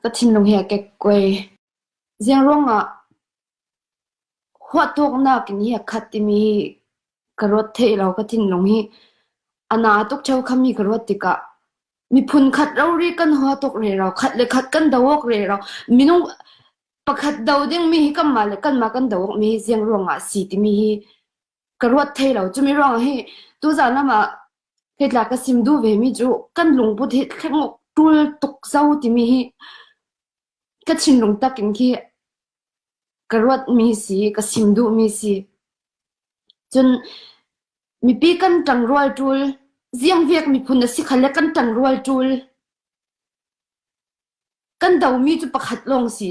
Ka thinlung hi a kekkuai. Ziah ruangah huahtawknak in hi a khat timi hi ka ruat thei lo. Ka thinlung hi a naa tuk ṭheukham hi ka ruat tikah miphun khat rori kan hua tuk rero. Khat le khat kan do awk rero. Minung pakhat do dingmi hi kanmah le kanmah kan do awkmi hi ziah ruangah a si timi hi ka ruat thai lo. Cumi ruangah hi tuzaan ram ah hitlak ka sim duh vemi cu kan lungput hi thleng uk ṭul tuk zo timi hi ka thinlung tak in khi ka ruatmi si, ka sim duhmi si. Cun mipi kan ṭang rual ṭul, ziangviak miphun a si khal le kan ṭang rual ṭul. Kan domi cu pakhat lawng si.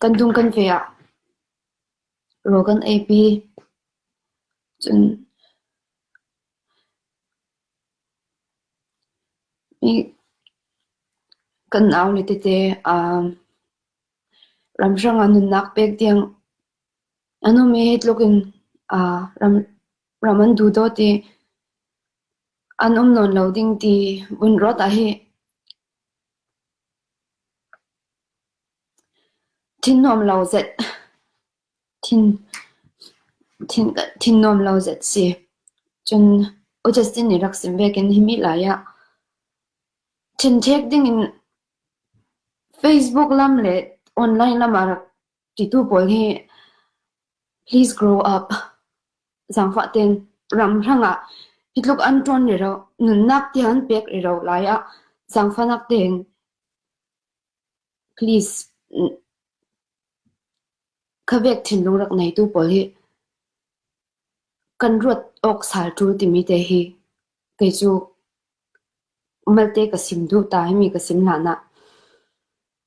Kan dum kan ve ah rawl kan ei pi. Cun mi kan au le tete aa ramhrang ah nunnak pek tiang a nung mi hi tluk in aa ram ram an duh dawt i An um nawn lo ding ti vun rawt ah hi thin nuam lo zet thin thin thin nuam lo zet si. Cun U Justin nih rak sim ve ken himi lai ah thenthek ding in Facebook lam le online lam ah rak Ṭitu pawl hi please grow up. Zaangfah tein ramhrang ah hi tluk an ṭuan riro, nunnak tiang an pek riro lai ah zaangfahnak tein please khavek thinlung rak neitu pawl hi kan ruat awk sal ṭul timi te hi kei cu malte ka sim duh ta i mi ka sim hlan ah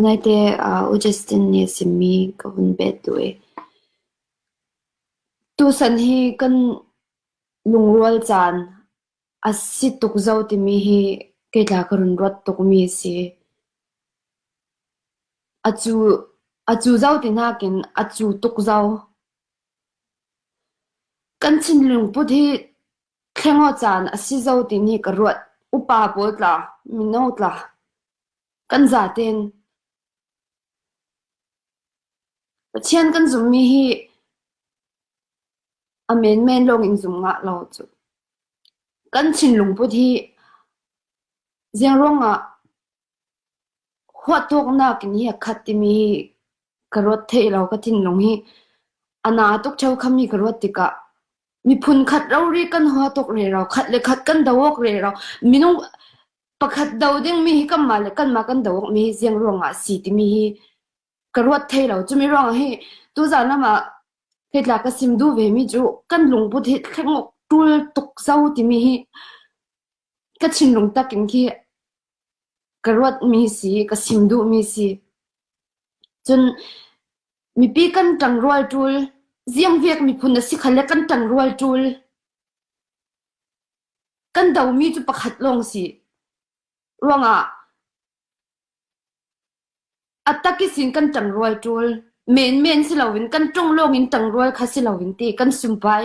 United ah Augustine nih a simmi ka hun peh tu i tusan hi kan lungrual caan a si tuk zau timi hi kei tla ka run ruat tukmi a si. A cu, a cu zau ti nakin a cu tuk zau. Kan thinlung put hi Thlengawh caan a si zo timi ka ruat. Upa pawl tla, mino tla, kan za ten. Pathian kan zummi hi a menmen lawng in zum ngah lo cu. Kan thinlung put hi ziaruang ah Huahtawknak in hi a khat timi ka ruat thai lo. Ka thinlung hi a na tuk cheu khammi ka ruat tikah miphun khat rori kan huahtawk rero, khat le khat kan do awk rero. Minung pakhat do dingmi hi kanmah le kanmah kan do awkmi hi ziang ruangah a si timi hi ka ruat thai lo. Cumi ruangah hi tuzaan amah heitlak ka sim duh vemi cu kan lungput hi thlengawk ṭul tuk zau timi hi ka thinlung tak in khi ka ruatmi si, ka sim duhmi si. Cun mipi kan ṭang rual ṭul, ziangvek miphun a si kha le kan ṭang rual ṭul. Kan domi cu pakhat lawng si. Ruangah a tak i sin kan ṭang rual ṭul. Menmen si loin kan ṭung lawng in ṭang rual kha si loin ti kan sumpai.